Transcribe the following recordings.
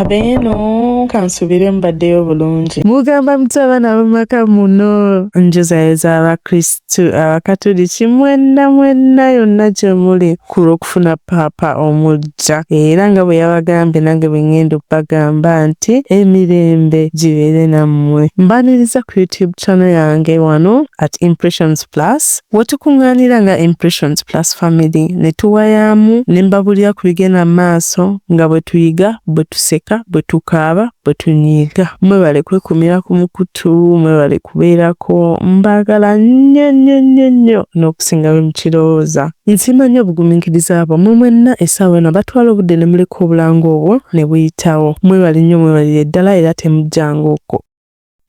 abeeno kansubire mbaddeyo bulungi mugamba muti abaana bamaka muno njuzayoza abakristu abakatuliki mwenna mwenna yonna gye muli ku lw'okufuna paapa omujja era nga bwe yabagambye nange bwe ngenda okubagamba nti emirembe gibeere nammwe mbaniriza ku youtube channel yange wano at impressions plus Wetukunganira nga Impressions Plus Family ne tuwayaamu ne mbabulira ku bigenda mu maaso nga bwe tuyiga, bwe tuseka, bwe tukaaba, bwe tunyiiga. Mwebale kwekumira ku mukutu, mwebale kubeerako. Mbaagala nnyo nnyo nnyo nnyo n'okusinga bwe mukirowooza. Nsiima nnyo obugumiikiriza bwa mwe mwenna essaawa eno abatwala obudde ne muleka obulango obwo ne buyitawo. Mwebale nnyo mwebalire ddala era temujjanga okwo.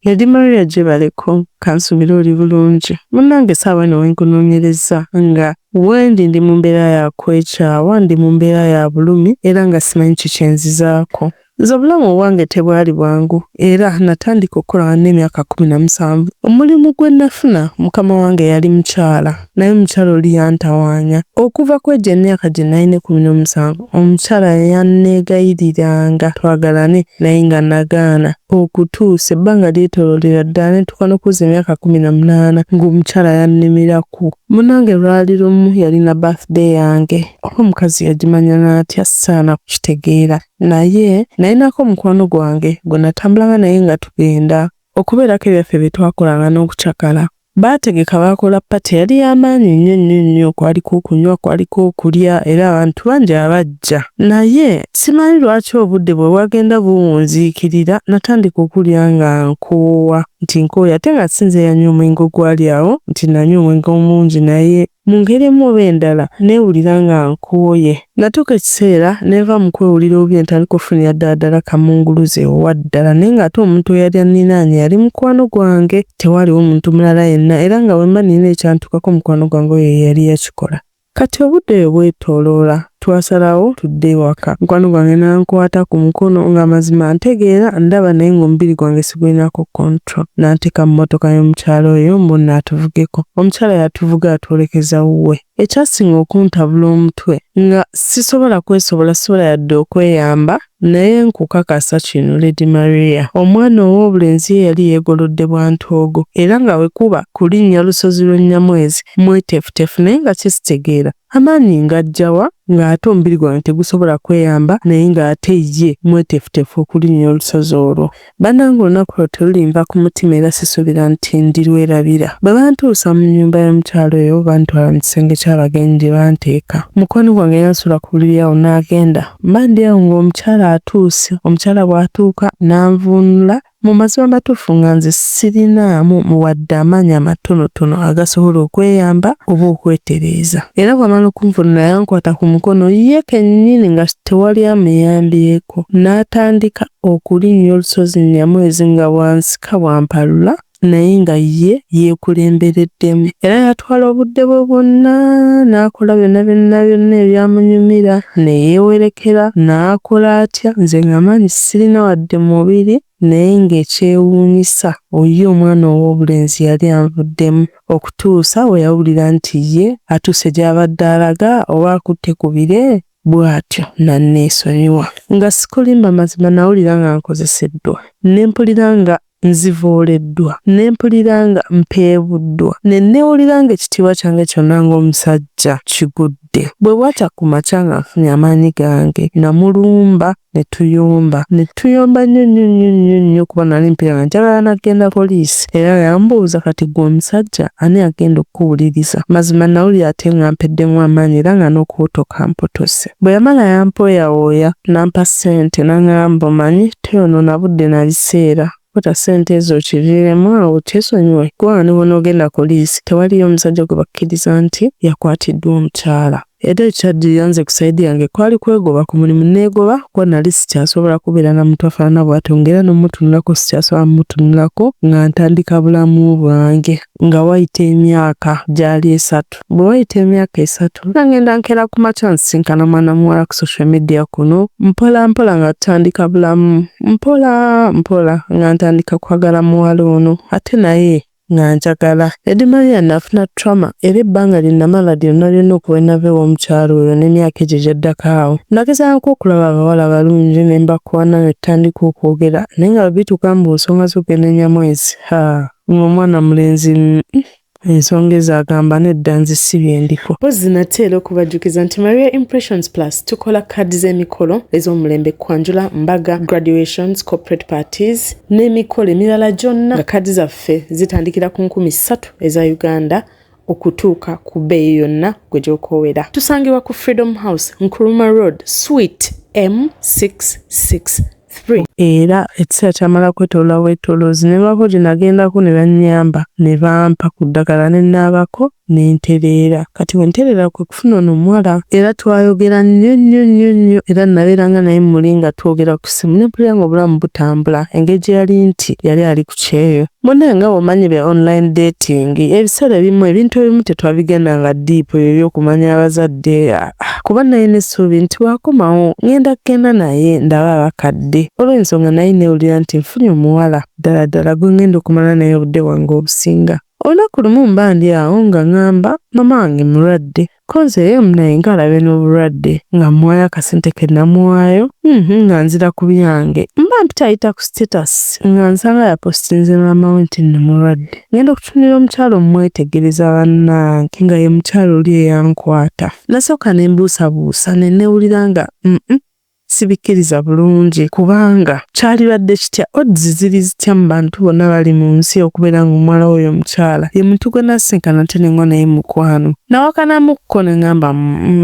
Lady Maria gyebaleko kansubire oli bulungi munange saawa eno wenkunonyereza nga wendi ndi mu mbeera ya kwekyawa ndi mu mbeera ya bulumi era nga simanyi kikyenzizaako nze obulamu obwange tebwali bwangu era natandika okukola nga nina emyaka kumi na musanvu omulimu gwenafuna mukama wange yali mukyala naye omukyala oli yantawaanya. Okuva kw'egyo emyaka gye nalina ekkumi n'omusanvu, omukyala yanneegayiriranga twagalane naye nga nagaana okutuusa ebbanga lyetooloolera ddala ne ntuuka n'okuweza emyaka kkumi na munaana ng'omukyala yannemerako. Munnange lwali lumu yalina birthday yange oba omukazi yagimanya n'atya saana kukitegeera naye nalinako mukwano gwange gwe natambulanga naye nga tugenda okubeerako ebyaffe bye twakolanga n'okucakala. Baategeka baakola pate yali ya maanyi nnyo nnyo nnyo. Kwaliko okunywa, kwaliko okulya era abantu bangi abajja. Naye simanyi lwaki obudde bwe bwagenda buwunziikirira, nnatandika okuwulira nga nkoowa, nti nkooye ate nga si nze eyanywa omwenge ogwali awo, nti nnanywa omwenge omungi naye Mu ngeri emu oba endala, nneewulira nga nkooye. Nnatuuka ekiseera ne nva mu kwewulira obubi ne ntandika okufunira ddala ddala Kamunguluze owa ddala naye ng'ate omuntu eyali anninaanye yali mukwano gwange. Tewaaliwo muntu mulala yenna era nga bwe mba nnina ekyantuukako mukwano gwange oyo ye yali yakikola. Kati obudde oyo bwetooloola. Twasalawo tudde ewaka. Mukwano gwange n'ankwata ku mukono nga mazima antegeera ndaba naye ng'omubiri gwange sigulinako control. N'anteeka mu mmotoka y'omukyala oyo mbu nno atuvugeko. Omukyala yatuvuga atwolekeza wuwe. Ekyasinga okuntabula omutwe nga sisobola kwesobola, sisobola yadde okweyamba naye nkukakasa kino Lady Maria, omwana ow'obulenzi ye yali yeegolodde bwa ntoogo era nga bwe kuba kulinnya lusozi lwa Nnyamwezi mweteefuteefu naye nga kisitegeera. Amaanyi ng'aggya wa ng'ate omubiri gwange tegusobola kweyamba naye ng'ate ye mweteefuteefu okulinnya olusozi olwo? Bannange olunaku olwo terulinva ku mutima era sisuubira nti ndirwerabira. Bwe bantuusa mu nnyumba y'omukyala oyo bantwala mu kisenge ky'abagenyi gye banteeka. Mukwano gwange yansuula ku buliri awo n'agenda. Mba ndi awo ng'omukyala atuuse. Omukyala bw'atuuka n'anvuunula Mu mazima amatuufu nga nze sirinaamu wadde amaanyi amatonotono agasobola okweyamba oba okwetereeza. Era bw'amala okunvunula yankwata ku mukono ye kennyini nga tewali amuyambyeko n'atandika okulinnya olusozi Nyamwezi nga bw'ansika bw'ampalula naye nga ye yeekulembereddemu. Era yatwala obudde bwe bwonna n'akola byonna byonna byonna ebyamunyumira ne yeewerekera n'akola atya nze ng'amaanyi Sirina wadde mubiri naye ng'ekyewuunyisa oyo omwana ow'obulenzi yali anvuddemu okutuusa bwe yawulira nti ye atuuse gy'abadde alaga oba akutte ku bire bw'atyo n'anneesonyiwa. Nga sikulimba mazima nawulira nga nkozeseddwa ne mpulira nga Nzivooleddwa, ne mpulira nga mpeebuddwa, ne nneewulira nga ekitiibwa kyange kyonna ng'omusajja kigudde. Bwe bwakya ku makya nga nfunye amaanyi gange, nnamulumba ne tuyomba. Ne tuyomba nnyo nnyo nnyo nnyo nnyo kuba nnali mpulira nga njagala na kugenda poliisi era yambuuza kati ggwe omusajja ani agenda okukuwuliriza? Mazima nnawulira ate nga mpeddemu amaanyi era nga n'okubutoka mputuse. Bwe yamala yampooyawooya n'ampa ssente n'ang'amba omanyi toyonoona budde na biseera, kwata ssente ezo okiviiremu awo kyesonyiwe kuba nga ne bw'onoogenda poliisi tewaliyo musajja gwe bakkiriza nti yakwatiddwa omukyala. Era ekyaddirira nze ku sayidi yange kwali kwegoba ku mulimu nneegoba kuba nnali sikyasobola kubeera na muntu afaanana bwatyo ng'era n'omutunulako sikyasobola mutunulako nga ntandika bulamu bwange. Nga wayita emyaka gyali esatu. Bwe wayita emyaka esatu, nga ngenda nkeera ku makya nsisinkana mwana muwala ku social media kuno, mpola mpola nga tutandika bulamu, mpola mpola nga ntandika kwagala muwala ono ate naye nga njagala. Eddy Maria nafuna trauma era ebbanga lye namala lyonna lyonna okuva lwe nava ew'omukyala oyo n'emyaka egyo egyaddako awo, nagezaako okulaba abawala abalungi ne mbakoona ne tutandika okwogera naye nga bwe bituuka mu nsonga z'okugenda e Nyamwezi, haa! Nga omwana mulenzi ensonga ezo agamba nedda nze si byendiko. Mpozzi nate era okubajjukiza nti Maria Impressions Plus tukola kaadi z'emikolo ez'omulembe kwanjula, mbaga, graduations, corporate parties n'emikolo emirala gyonna nga kaadi zaffe zitandikira ku nkumi ssatu eza Uganda okutuuka ku bbeeyi yonna gwe gy'okoowera. Tusangibwa ku Freedom House, Nkrumah Road, Suite M663. Era ekiseera kyamala kwetolola bwetoloozi ne baako gye nagendako ne bannyamba ne bampa ku ddagala ne naabako ne ntereera. Kati bwe ntereera ku okufuna ono omuwala era twayogera nnyo nnyo nnyo nnyo era nabeeranga naye muli nga twogera ku ssimu ne mpulira nga obulamu butambula engeri gye yali nti yali ali ku kyeyo munaye nga bwomanyi be online dating ebiseera ebimu ebintu ebimu tetwabigenda nga deep ebyo ebyokumanya abazadde ah, ah, kuba naye n'essuubi nti bwakomawo ngenda kugenda naye ndaba abakadde olw'ensonga naye newulira nti nfunye omuwala ddala ddala gwe ngenda okumala naye obudde bwange obusinga Olunaku lumu mba ndi awo nga ngamba mama wange mulwadde coz eyo munaye nga alabe nobulwadde nga muwayo akasente kenamuwayo uhmm nga nzira kubyange mba mpitayita ku status nga nsanga yapostinze maama we nti nno mulwadde ngenda okutunira omukyala omumwetegereza banange nga ye mukyala oli eyankwata nasooka nembuusabuusa nenewulira nga uhmm Sibikkiriza bulungi kubanga kyalibadde kitya odds ziri zitya mu bantu bonna bali mu nsi okubeera nga omuwala w'oyo omukyala ye muntu gwe nasinkana ate ne ngwa naye mukwano. Nawakanamukko ne ngamba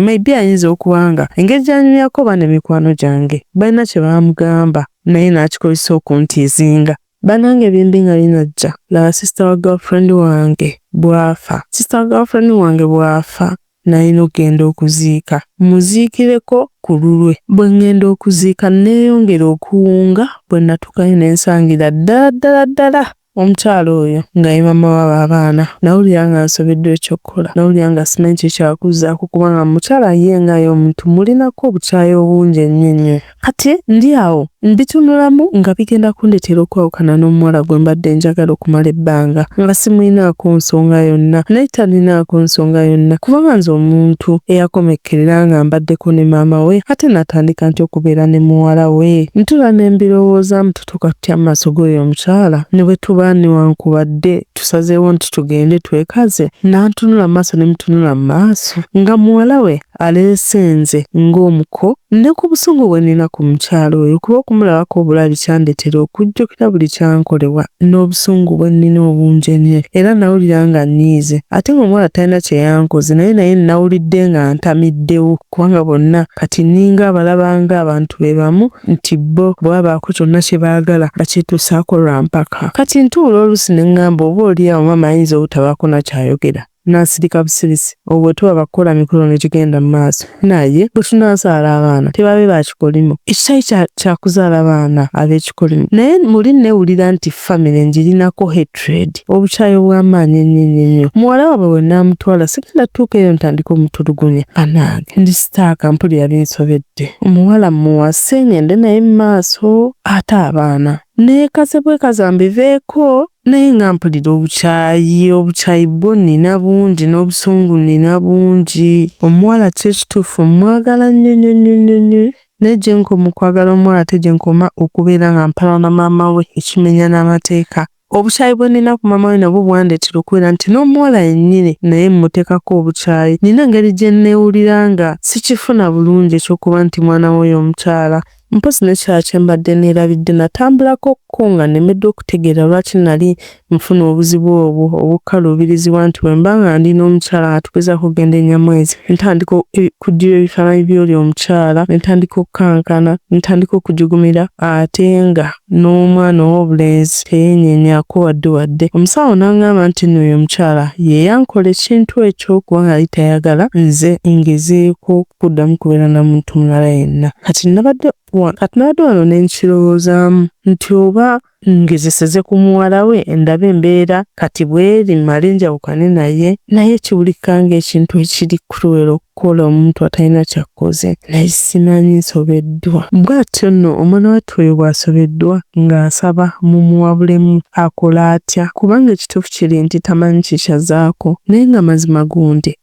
maybe ayinza okuba nga engeri gy'anyumyako oba ne mikwano gyange balina kye baamugamba naye n'akikozesa okuntiizinga. Banange bimbi nga binajja laba sister wa girlfriend wange bwafa sister wa girlfriend wange bwafa Nnalina okugenda okuziika mmuziikireko ku lulwe. Bwe ŋŋenda okuziika nneeyongera okuwunga bwe nnatuukayo ne nsangira ddala ddala ddala omukyala oyo nga ye maama w'abo abaana. Nnawulira nga nsobeddwa eky'okukola. Nnawulira nga simanyi kye kya kuzzaako kubanga mu mukyala ye nga ye omuntu mmulinako obukyayi obungi ennyo ennyo. Kati ndi awo mbitunulamu nga bigenda kundetera okwawukana n'omuwala gwe mbadde njagala okumala ebbanga nga simulinaako nsonga yonna naye talinaako nsonga yonna kubanga nze omuntu eyakomekkerera nga mbaddeko ne maama we ate natandika nti okubeera ne muwala we ntula ne mbirowoozamu tutuuka tutya mu maaso g'oyo omukyala ne bwe tuba newankubadde tusazeewo nti tugende twekaze nantunula mu maaso ne mutunula mu maaso nga muwala we aleese nze ng'omuko ne ku busungu bwe nnina ku mukyala oyo kuba okumulabako obulabi kyandetera okujjukira buli kyankolebwa n'obusungu bwe nnina obungi ennyo era nawulira nga nnyiize ate ng'omuwala talina kye yankoze naye naye nnawulidde nga ntamiddewo kubanga bonna kati nninga abalaba ng'abantu be bamu nti bo bwe babaako kyonna kye baagala bakyetuusaako lwa mpaka. Kati ntuula oluusi ne ŋŋamba oba olyawo maama ayinza obutabaako na ky'ayogera. Nasirika busirisi olwo bwe tuba bakukola mikolo ne gigenda mu maaso naye bwe tunaazaala abaana tebabe ba kikolimo. Ekitali kya kya kuzaala baana ab'ekikolimo naye muli nneewulira nti ffamire ngirinako hatred, obukyayi obw'amaanyi ennyo ennyo ennyo. Muwala waabwe bwe naamutwala sigenda kutuuka eyo ntandike omutulugunya. Bannange ndi sitaaka mpulira binsobedde. Omuwala mmuwase ng'ende naye mu maaso ate abaana nneekaze bwekaza mbiveeko. naye nga mpulira obukyayi obukyayi bwo nina bungi n'obusungu nina bungi omuwala kyo ekituufu mwagala nnyo nnyo nnyo nnyo nnyo naye gyenkoma okwagala omuwala ate gyenkoma okubeera nga mpala na maama we ekimenya n'amateeka obukyayi bwe nina ku maama we nabwo bwandeetera okubeera nti n'omuwala yennyini naye mmuteekako obukyayi nina engeri gye nneewulira nga sikifuna bulungi eky'okuba nti mwana w'oyo omukyala Mpozzi n'ekirala kye mbadde neerabidde natambulako ko nga nnemeddwa okutegeera lwaki nnali nfuna obuzibu obwo obukkaluubirizibwa nti bwe mba nga ndi n'omukyala nga tugezaako okugenda e Nyamwezi ntandika okuggyibwa ebifaananyi by'oli omukyala ne ntandika okukankana ne ntandika okujugumira ate nga n'omwana ow'obulenzi teyeenyenyaako wadde wadde. Omusawo n'angamba nti nno oyo omukyala ye yankola ekintu ekyo kuba nga yali tayagala nze ngezeeko kuddamu kubeera na muntu mulala yenna. Kati nnabadde wa, kati nnabadde wano ne nkirowoozaamu nti oba ngezeseze ku muwala we ndabe embeera kati bw'eri, mmale njawukane naye. Naye kiwulika ng'ekintu ekiri cruel okukola omuntu atalina ky'akkoze. Naye simanyi, nsobeddwa. Bw'atyo nno omwana wattu oyo bw'asobeddwa, nga nsaba mumuwabulemu akole atya, kubanga ekituufu kiri nti tamanyi kye ky'azzaako. Naye nga mazima gundi.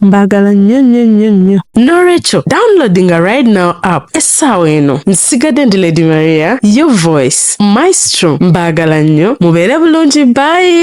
mbagala nnyo nnyo nnyo nnyo n'olwekyo downloadinga right now app essaawa eno nsigadde ndi lady maria yo voice maestro mbagala nnyo mubeere bulungi bayi